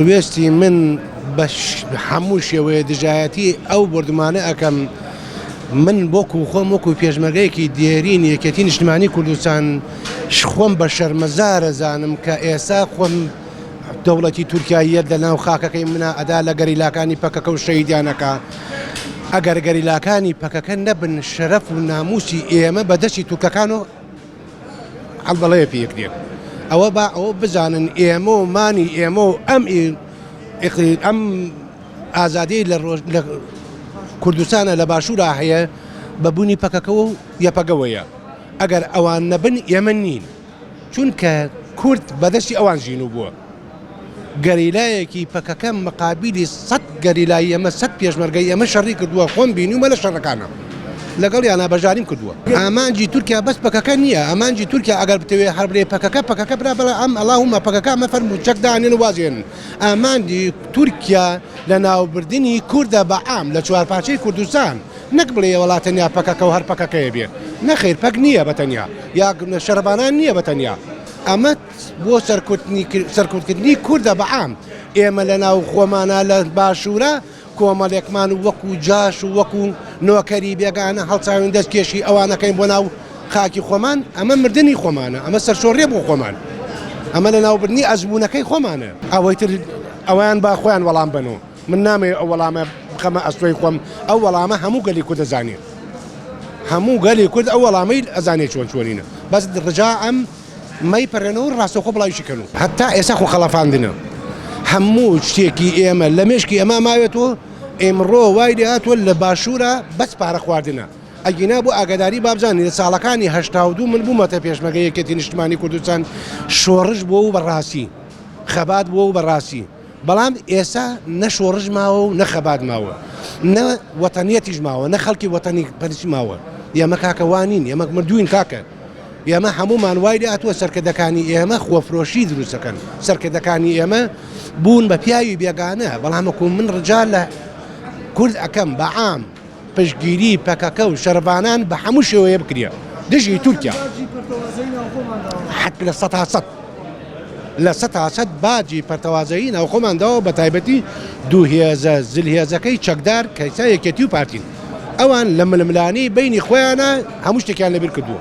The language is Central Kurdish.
وێستی من بە هەموو شێوەیە دژایەتی ئەو بۆردومانە ئەکەم من بۆکو خۆم وەکو پێشمەرگەیەکی دێرین یەکێتی نیشتمانی کوردستان خۆم بە شەرمەزارە زانم کە ئێسا خۆم دەوڵەتی تورکاییە لە ناو خاکەکەی منا ئەدا لە گەریلاکانی پەکەکە و شەیدانەکە ئەگەر گەریلاکانی پەکەکە نەبن شەرەف و ناموسی ئێمە بەدەستی تورکەکان و عەبدەڵەیە پێک دێن ئەوە با ئەوە بزانن ئێمە و مانی ئێمە و ئەم ئەم ئازادی لە ڕۆژ لە کوردستانە لە باشوورا هەیە بە بوونی پەکەکەەوە و یەپەگەوەیە ئەگەر ئەوان نەبن ئێمە نین چونکە کورد بەدەستی ئەوان ژین و بووە. گەریلایەکی پەکەکە مقابیلی سەد گەریلای ئێمە سەد پێشمەرگەی ئێمە شەڕی کردووە خۆم بینیومە لە شەڕەکانا لەگەڵیانا بەژاریم کردووە ئامانجی تورکیا بەس پەکەکە نییە ئامانجی تورکیا ئەگەر بتەوێت هەر بلێ پەکەکە پەکەکە برا بەڵێ ئەم ئەڵاهومە پەکەکە ئەمە فەرموو چەک دانێن و وازێن ئامانجی تورکیا لە ناوبردنی کوردە بە عام لە چوارپارچەی کوردستان نەک بڵێ وەڵا تەنیا پەکەکە و هەر پەکەکەیە بێت نەخیر پەک نییە بە تەنیا یا شەڕڤانان نییە بە تەنیا ئەمە بۆ سەرکوتکردنی کوردە بە عام، ئێمە لە ناو خۆمانا لە باشوورا کۆمەڵێکمان و وەکوو جاش و وەکوو نۆکەری بێگانە هەڵچاوین دەست کێشی ئەوان ئەکەین بۆ ناو خاکی خۆمان، ئەمە مردنی خۆمانە، ئەمە سەرشۆڕیە بۆ خۆمان، ئەمە لە ناوبردنی ئەزموونەکەی خۆمانە. ئەوەی تر ئەوان با خۆیان وەڵام بەن و من نامەوێ ئەو وەڵامە بخەمە ئەستۆی خۆم، ئەو وەڵامە هەموو گەلی کورد ئەزانێ، هەموو گەلی کورد ئەو وەڵامەی ئەزانێ چۆن چۆنینە، بەس ڕجا ئەم. مەیپەرێنەوە و ڕاستەوخۆ بڵاویشی کەن و هەتا ئێستا خۆ خەڵەفاندنە. هەموو شتێکی ئێمە لە مێشکی ئەما ماوێتەوە، ئێمڕۆ وای لێ هاتووە لە باشوورا بەس پارە خواردنە. ئەگینا بۆ ئاگاداری بابزانین لە ساڵەکانی هەشتا و دوو من بوومەتە پێشمەرگە یەکێتی نیشتمانی کوردستان، شۆڕش بووە و بە ڕاستی. خەبات بووە و بە ڕاستی. بەڵام ئێستا نە شۆڕش ماوە و نە خەبات ماوە نە وەتەنیەتیش ماوە نە خەڵکی وەتەنی پەرسی ماوە ئێمە کاکە وانین ئێمە مردووین کاکە ئێمە هەمومان وای لاتووە سەرکردەکانی ئێمە خۆفرۆشی دروستەکەن سەرکردەکانی ئێمە بوون بە پیاوی بێگانە بەڵامەکو من ڕجال لە کورد ئەەکەم بەعام پشتگیری پەکەکە و شەرڤانان بە هەموو شێوەیە بکرێ دژی تورکیا حەک لە سەد ها سەد لە سەد ها سەد باجی پەرتەوازەیی ناوخۆمان داوە بە تایبەتی دوو هێزە زل هێزەکەی چەکدار کە ئیستا یەکێتی و پارتین ئەوان لە ململانێی بەینی خۆیانا هەموو شتێکیان لەبیر کردووە.